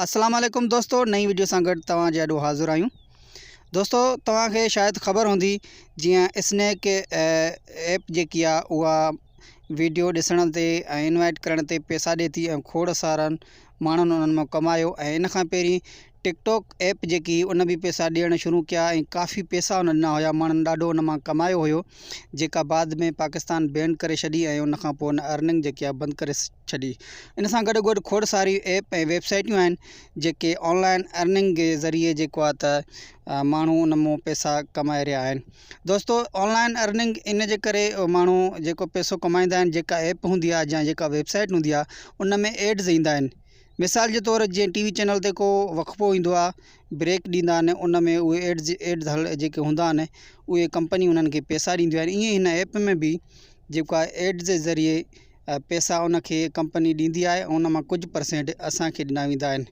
السلام عليڪم دوستو نئين ويڊيو سان گڏ توهان جي آڏو حاضر آهيون دوستو توهان کي شايد خبر هوندي جيئن اسنيڪ ايپ جيڪي آ اها ويڊيو ڏسڻ تي ۽ انوائٽ ڪرڻ تي پيسا ڏي ٿي ۽ کوڙ سارن ماڻهن انهن مان ڪمايو ۽ ان کان پهرين ٽڪ ٽاڪ ايپ جيڪي هئي ان به پيسا ڏيڻ شروع ڪيا ۽ ڪافي پيسا ان ڏنا هيا ماڻهن ڏاڍو ان مان ڪمايو هيو جيڪا بعد ۾ پاڪستان بينڊ ڪري ڇڏي ۽ ان کان پوء ان ارننگ جيڪي آ بند ڪري ڇڏي. ان سان گڏو گڏ کوڙ ساريون ايپ ۽ ويب سائيٽون آهن جيڪي آن لائن ارننگ جي ذريعي جيڪو آهي ته ماڻهو ان مون پيسا ڪمائي رهيا آهن. دوستو آن لائن ارننگ ان جي ڪري ماڻهو جيڪو پيسو ڪمائيندا آهن جيڪا ايپ هوندي آهي يا جيڪا ويب سائيٽ هوندي آهي ان ۾ ايڊز ايندا آهن مثال جي طور جيئن ٽي وي چينل تي ڪو وقفو ايندو آهي بريڪ ڏيندا آهن ان ۾ اهي ايڊز ايڊز هل جيڪي هوندا آهن اهي ڪمپنيون انهن کي پيسا ڏينديون آهن ائين هن ايپ ۾ به جيڪو آهي ايڊز ذريعي پيسا ان کي ڪمپني ڏيندي آهي ۽ ان مان ڪجهه پرسينٽ اسانکي ڏنا ويندا آهن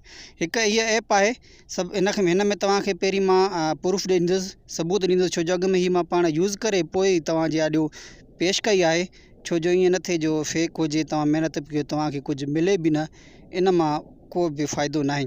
هڪ هيء ايپ آهي سڀ ان کي هن ۾ توهان کي پهرين مان پروف ڏيندس ثبوت ڏيندس ڇو جو اڳ ۾ هي مان پاڻ يوز ڪري پوء ئي توهان جي آڏيو پيش ڪئي آهي ڇو جو ائين نه ٿئي جو فيڪ هجي توهان محنت به ڪيو توهان کي ڪجهه ملي به نه ان مان ڪو به فائدو ناهي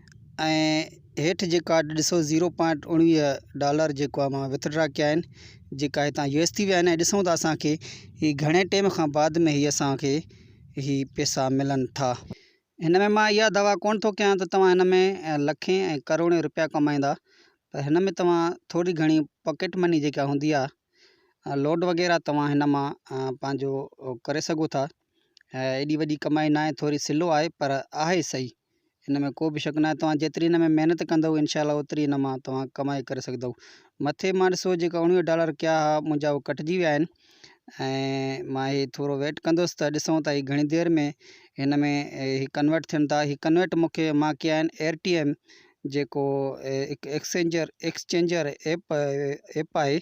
۽ هيٺ جيڪا ڏسو زيرو پوائنٽ اڻويهه ڊالر جيڪو آهي مان وٿڊرا ڪيا آهن جيڪا هتان يو ايس ٿي ويا آهن ۽ ڏسون ٿا اسانکي هي گهڻي ٽيم کان بعد ۾ هي اسانکي هي پيسا ملن ٿا هن ۾ مان اها دعويٰ ڪونه ٿو ڪيان ته توهان هن ۾ لکين ۽ ڪروڙين روپيا ڪمائيندا پر هن ۾ توهان ٿوري گهڻي پاڪيٽ مني جيڪا هوندي آهي لوڊ وغيره توهان هن مان پنهنجو ڪري سگهو ٿا ايڏي وڏي ڪمائي ناهي ٿوري سلو آهي پر آهي سهي ان ۾ ڪو به شڪ ناهي توهان جيتري ان ۾ محنت ڪندؤ انشاء الله اوتري ان مان توهان ڪمائي ڪري سگهندؤ مٿي مان ڏسو جيڪا اوڻويهه ڊالر ڪيا ها منهنجا اهو ڪٽجي ويا آهن ۽ مان هي ٿورو ويٽ ڪندوس ته ڏسون ته هي گهڻي دير ۾ هن ۾ هي ڪنورٽ ٿين ٿا هي ڪنورٽ مونکي مان ڪيا آهن اير ٽي ايم جيڪو هڪ ايڪسچينجر ايڪسچينجر ايپ ايپ آهي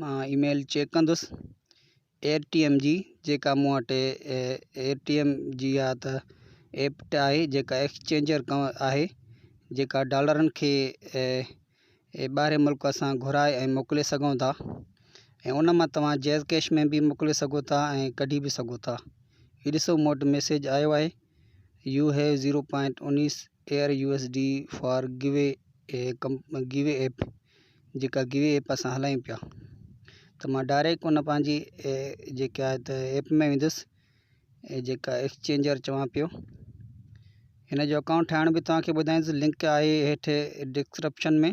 مان اي ميل چيڪ ڪندس ايئر ٽي ايم جي جيڪا مون وٽ ايئر ٽي ايم جي يا ته ايپ ٽي آئي جيڪا ايڪسچينجر آهي جيڪا ڊالرن کي ٻاهرين ملڪ اسان گهرائي ۽ موڪلي سگهون ٿا ۽ ان مان توهان جيز ڪيش ۾ بي موڪلي سگهو ٿا ۽ ڪڍي به سگهو ٿا هي ڏسو مون وٽ ميسيج آيو آهي يو هيو زيرو پوائنٽ انيس air U S D for گوي گوي ايپ جيڪا گوي ايپ اسان هلايون پيا ته ما ڊائريڪٽ ان پنهنجي جيڪا آهي ته ايپ ۾ ويندس ۽ جيڪا ايڪسچينجر چوان پيو هن جو اڪائونٽ ٺاهڻ به توهان کي ٻڌائيندس لنڪ آهي هيٺ ڊسڪرپشن ۾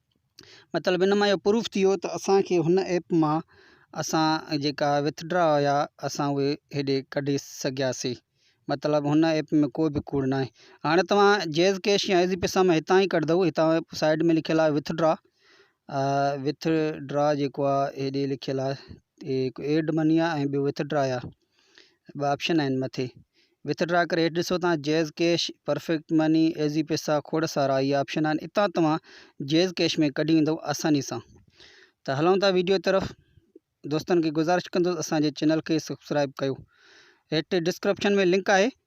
مطلب ان مان اهو پروف ٿي ويو ته اسان کي هن ايپ مان اسان جيڪا وٿ ڊرا هيا اسان اهي هيڏي ڪڍي سگهياسين مطلب هن ايپ ۾ ڪو به ڪوڙ ناهي هاڻي توهان جيز ڪيش يا ايزي پيسا مان هتان ئي ڪڍندو هتان سائيڊ ۾ لکيل آهي وٿ ڊرا وٿ ڊرا جيڪو آهي هيڏي لکيل آهي هڪ ايڊ مني آهي ۽ ٻيو وٿ ڊرا آهي ٻه آپشن آهن مٿي وٿڊرا ڪري هيٺ ڏسو تان JazzCash perfect money Easypaisa کوڙ سارا هي آپشن آهن اتان توهان جيز ڪيش ۾ ڪڍي ويندو آساني سان ته هلون ٿا ويڊيو طرف دوستن کي گزارش ڪندس اسان جي چينل کي سبسڪرائب ڪيو هيٺ ڊسڪرپشن ۾ لنڪ آهي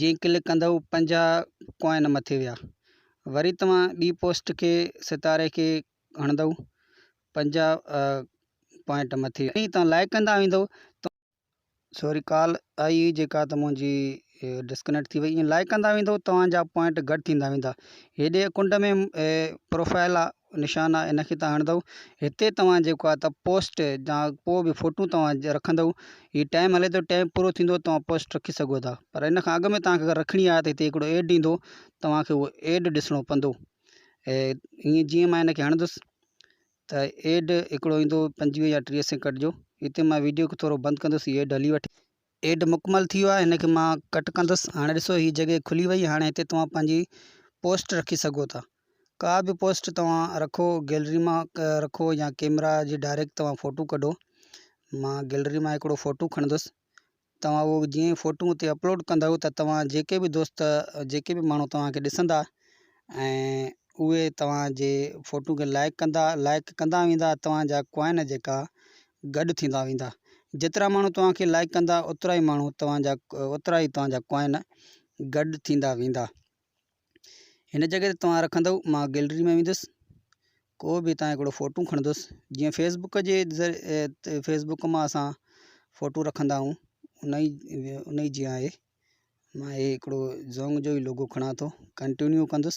جيئن ڪلڪ ڪندؤ پنجاهه ڪوائن مٿي ويا وري توهان ٻي پوسٽ کي ستاري کي هڻندؤ پنجاهه پوائنٽ مٿي ويا ۽ توهان لائڪ ڪندا ويندؤ سوري ڪال آئي هئي جيڪا ته منهنجي ڊسڪنيڪٽ ٿي وئي ائين لائڪ ڪندا ويندؤ توهان جا پوائنٽ گهٽ ٿيندا ويندا هيڏي ڪنڊ ۾ پروفائل نشان آ ان کي تان هڻندؤ هتي توهان جيڪو آ ته پوسٽ جا ڪو به فوٽو توهان رکندؤ هي ٽائم هلي ٿو ٽائم پورو ٿيندو توهان پوسٽ رکي سگهو ٿا پر ان کان اڳ ۾ توهان کي اگر رکڻي آ ته هتي هڪڙو ايڊ ايندو توهان کي اهو ايڊ ڏسڻو پوندو ۽ هيئن جيئن مان ان کي هڻندس ته ايڊ هڪڙو ايندو پنجويهه يا ٽيهه سيڪنڊ جو هتي مان ويڊيو کي ٿورو بند ڪندس هي ايڊ هلي وٺي ايڊ مڪمل ٿي ويو آهي هن کي مان ڪٽ ڪندس هاڻي ڏسو هي جڳهه کلي وئي هاڻي هتي توهان پنهنجي پوسٽ رکي سگهو ٿا ڪا به پوسٽ توهان رکو گيلري مان رکو يا ڪيمرا جي ڊائريڪٽ توهان فوٽو ڪڍو مان گيلري مان هڪڙو فوٽو کڻندس توهان اهو جيئن فوٽو اتي اپلوڊ ڪندو ته توهان جيڪي به دوست جيڪي به ماڻهو توهان کي ڏسندا ۽ اهي توهان جي فوٽو کي لائڪ ڪندا لائڪ ڪندا ويندا توهان جا ڪوائن جيڪا گڏ ٿيندا ويندا. جيترا ماڻهو توهان کي لائيڪ ڪندا اوترا ئي ماڻهو توهان جا اوترا ئي توهان جا ڪوائن گڏ ٿيندا ويندا. هن جڳهه تي توهان رکندؤ مان گيلري ۾ ويندس ڪو به هتان هڪڙو فوٽون کڻندس جيئن فيس بڪ جي فيس بڪ مان اسان فوٽو رکندا آهيون ان ئي ان ئي جيئان آهي مان هي هڪڙو زونگ جو ئي لوگو کڻان ٿو ڪنٽينيو ڪندس.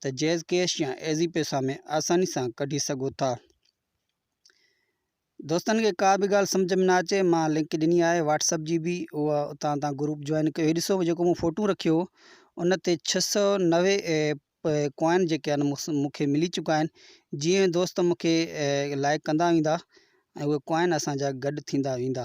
ته جيز ڪيش يا ايزي پيسا ۾ آساني سان ڪڍي سگهو ٿا. دوستن کي ڪا به ڳالهه سمجهه ۾ نه اچي مان لنڪ ڏني آهي واٽس اپ جي به اهو اتان تان گروپ جوائن ڪيو هي ڏسو جيڪو مون فوٽو رکيو ان تي ڇهه سؤ نوي ڪوائن جيڪي آهن مونکي ملي چڪا آهن جيئن دوست مونکي لائق ڪندا ويندا ۽ اهي ڪوائن اسان جا گڏ ٿيندا ويندا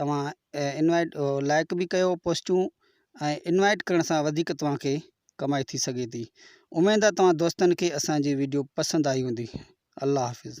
توهان انوائيٽ لائڪ به ڪيو پوسٽون ۽ انوائيٽ ڪرڻ سان وڌيڪ توهان کي ڪمائي ٿي سگهي ٿي اميد آهي توهان دوستن کي اسان جي ويڊيو پسند آئي هوندي الله حافظ